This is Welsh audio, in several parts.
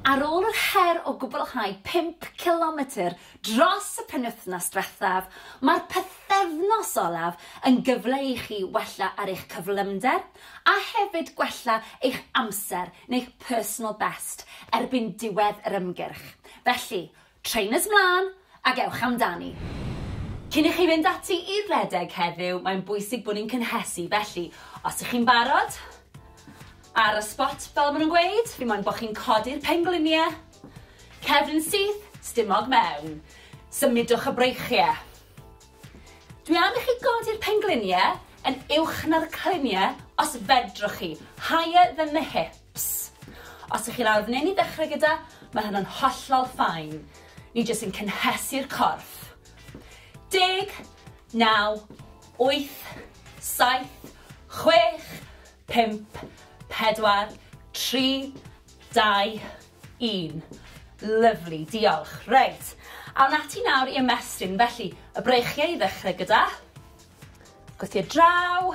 Ar ôl yr her o gwblhau pump cilometr dros y penwythnos diwethaf, mae'r pythefnos olaf yn gyfle i chi wella ar eich cyflymder a hefyd gwella eich amser neu'ch personal best erbyn diwedd yr ymgyrch. Felly, Trainers 'mlân ac ewch amdani! Cyn i chi fynd ati i redeg heddiw, mae'n bwysig bod ni'n cynhesu, felly os ych chi'n barod, ar y spot fel ma' nhw'n gweud, fi moyn bo' chi'n codi'r penglinie, cefn yn syth, stumog mewn, symudwch y breichie. Dwi am i chi godi'r penglinie yn uwch na'r clinie os fedrwch chi, higher than the hips. Ps. Os ych chi'n arbennig ddechrau gyda, mae hynna'n hollol fine. Ni jyst yn cynhesu'r corff. Deg, naw, wyth, saith, chwech, pump, pedwar, tri, dau, un. Lyfli, diolch. Reit, awn ati nawr i ymestyn. Felly, y breichiau i ddechrau gyda. Gwythio draw.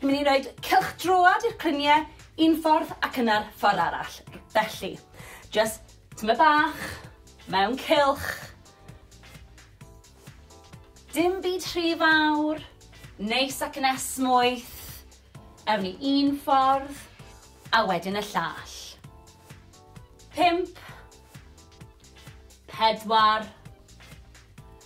Ni'n mynd i roed cylch droad i'r clynie un ffordd ac yna'r ffordd arall. Felly, just tyma bach, mewn cylch. Dim byd rhy fawr, neis ac yn esmwyth. Ewn ni un ffordd, a wedyn y llall. Pimp. Pedwar.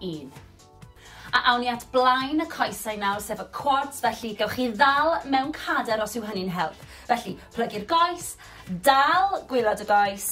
un. A awn ni at blaen y coesau nawr, sef y quads, felly gewch chi ddal mewn cader os yw hynny'n help. Felly, plygu'r goes, dal gwylod y goes,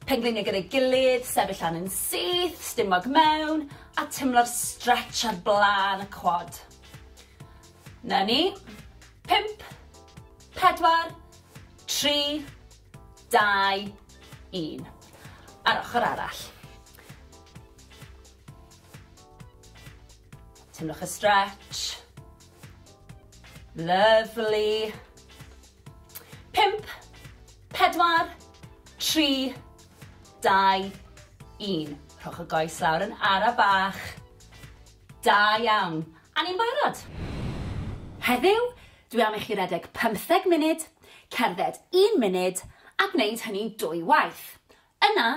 pengliniau gyda'i gilydd, sefyll lan yn syth, stumog mewn, a tymlo'r stretch ar blaen y quad. Na ni. Pimp, pedwar, tri, dau, un. A'r ochr arall. Teimlwch y stretch. Lovely. Pimp, pedwar, tri, dau, un. Rhowch y goes lawr yn ara bach. Da iawn. A ni'n barod. Heddiw, Dwi am i chi redeg pymtheg munud, cerdded un munud a gwneud hynny dwy waith. Yna,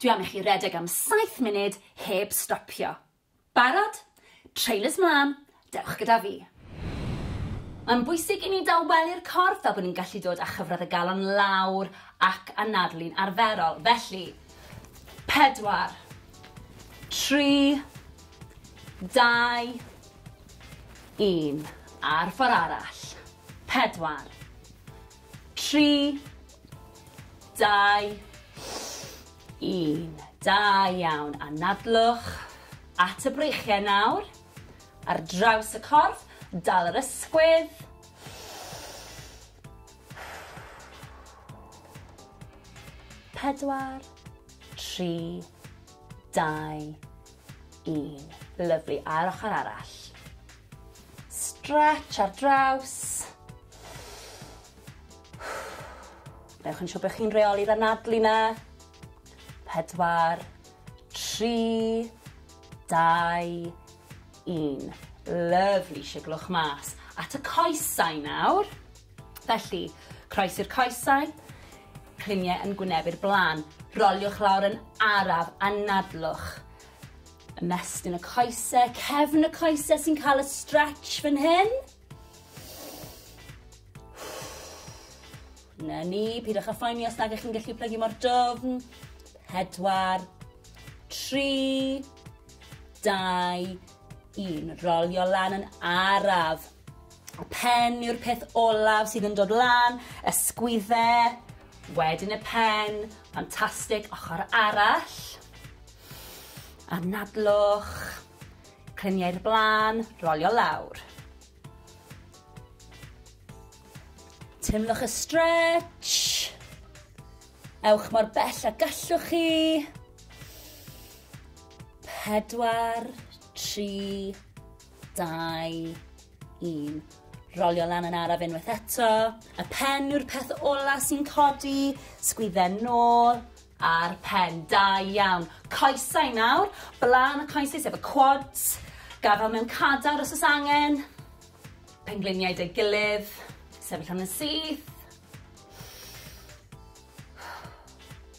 dwi am i chi redeg am saith munud heb stopio. Barod? Trainers 'mlaen, dewch gyda fi. Mae'n bwysig i ni dawelu'r corff fel bod ni'n gallu dod â chyfradd y galon lawr ac anadlu'n arferol. Felly, pedwar, tri, dau, Un. Ar ffor arall. Pedwar. Tri. Dau. Un. Da iawn. Anadlwch at y breichiau nawr. Ar draws y corff. Dal yr ysgwydd. Pedwar. Tri. Dau. Un. Lyfli, a'r ochr arall. Stretch ar draws. Newch yn siŵr bod chi'n reoli'r anadlu na. Pedwar, tri, dau, un. Lyfli, siglwch mas. At y coesau nawr. Felly, croesi'r coesau, cliniau yn gwynebu'r blaen. Roliwch lawr yn araf, anadlwch. Ymestyn y coesau, cefn y coesau sy'n cael y stretch fan hyn. Na ni, pidwch â phoeni os nag ych chi'n gallu plygu mor dofn. Pedwar, tri, dau, un. Rolio lan yn araf. Y pen yw'r peth olaf sydd yn dod lan, ysgwydde, wedyn y pen, ffantastig, ochr arall. Anadlwch, clymiau'r blaen, rolio lawr. Teimlwch y stretch. Ewch mor bell a gallwch chi. Pedwar, tri, dau, un. Rolio lan yn araf unwaith eto. Y pen yw'r peth ola sy'n codi, sgwydden nôl, a'r pen. Da iawn. Coesau nawr, blaen y coesau sef y quads, gafael mewn cadar os oes angen, pengliniau dy gilydd, sefyll am yn syth.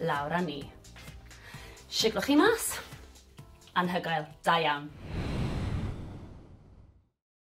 lawr a ni. Siglwch chi mas. Anhygoel. Da iawn.